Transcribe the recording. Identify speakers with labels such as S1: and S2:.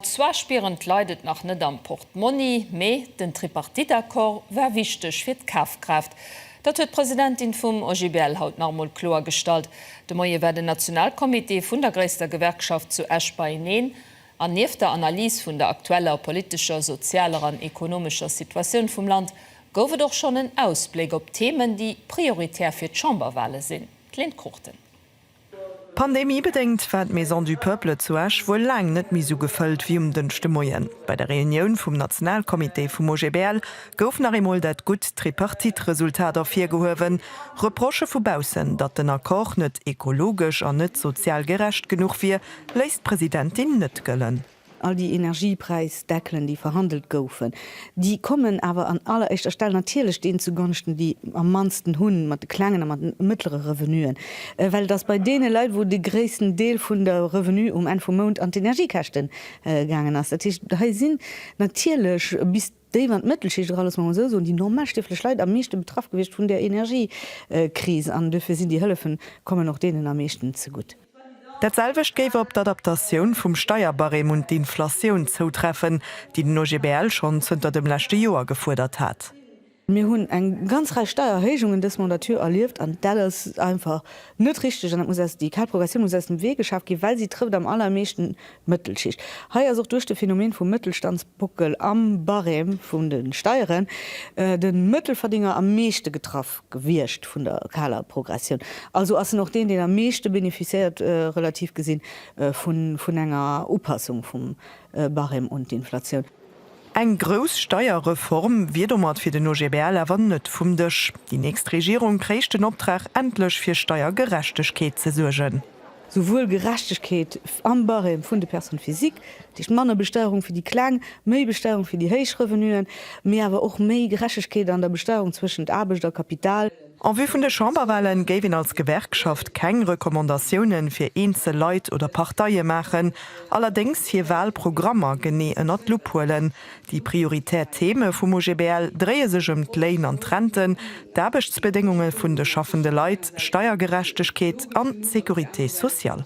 S1: Zwar spieren d'Leit et nach net am Portmonni, mee den Tripartite-Accord war wichteg fir d'Kafkraaft. Dat huet d'Presidentin vum OGBL haut nach emol kloergestallt. De Moie war den Nationalcomité vun der gréisster Gewerkschaft zu Esch beieneen an nieft der Analys vun der aktueller politescher, sozialer an ekonomescher Situatioun vum Land gouf et och schonn en Ausbléck op Themen, déi prioritär fir d'Chamberwale sinn. D'Lynn Cruchten. Pandemiebedéngt
S2: war d'Maison du Peuple zu Esch wuel laang net méi sou gefëllt wéi um Dënschdemoien. Bei der Reunioun vum Nationalcomité vum OGBL gouf nach eemol dat gutt Tripartite-Resultat ervirgehuewen. Reprochë vu baussen, datt den Accord net ekologesch an net sozial gerecht genuch wier, léisst d'Presidentin net gëllen. All déi
S3: Energiepräisdeckelen, déi verhandelt goufen, déi kommen awer an alleréischter Stell natierlech deenen zugonschten, déi am mannsten hunn, mat de klengen a mat de mëttlere Revenuen, well et ass bei deene Leit, wou de gréissten Deel vun de Revenue um Enn vum Mount an d'Energiekäschte gaangen ass. Dat heescht, hei sinn natierlech bis. Déi mat Mëttelschicht, ech kann et mol esou soen, déi normal stieflech Leit am meeschte betraff gewiescht vun der Energiekris an dofir sinn déi Hëllefen, kommen och deenen am meeschten zegutt. Dat selwecht
S2: géif op d'Adaptatioun vum Steierbarème un d'Inflatioun zoutreffen, déi den OGBL schonn zënter dem leschte Joer gefuerdert hat. Mir hunn eng
S3: ganz Rei Steiererhéijungen dës Mandature erlieft an dat ass einfach net richteg an dat muss aus, déi kal Progressioun muss aus dem Wee geschaaft ginn, well si trëfft am allermeeschten Mëttelschicht. Hei ass och duerch de Phänomen vum Mëttelstandsbuckel am Barème vun de Steieren de Mëttelverdénger am meeschte getraff gewiescht vun der kaler Progressioun. Also ass en och deen, deen am meeschte beneficiéiert, relativ gesinn, vun enger Upassung vum Barème un d'Inflatioun. Eng grouss
S2: Steierreform wier domat fir den OGBL awer net vum Dësch. Déi nächst Regierung kréich den Optrag, endlech fir Steiergerechtegkeet ze suergen. Souwuel
S3: Gerechtegkeet am Barème vun de Personnes physiques, dat heescht manner Besteierung fir déi Kleng, méi Besteierung fir déi héich Revenuen, mee awer och méi Gerechtegkeet an der Besteierung zwëschent Aarbecht a Kapital. En vue vun de
S2: Chamberwahlen géif een als Gewerkschaft keng Recommandatiounen fir eenzel Leit oder Parteie maachen, allerdéngs hir Wahlprogrammer genee ënnert d'Lupp huelen. Déi prioritär Theme vum OGBL dréie sech ëm d'Léin an d'Renten, d'Aarbechtsbedéngunge vun de schaffende Leit, Steiergerechtegkeet an d'Sécurité sociale.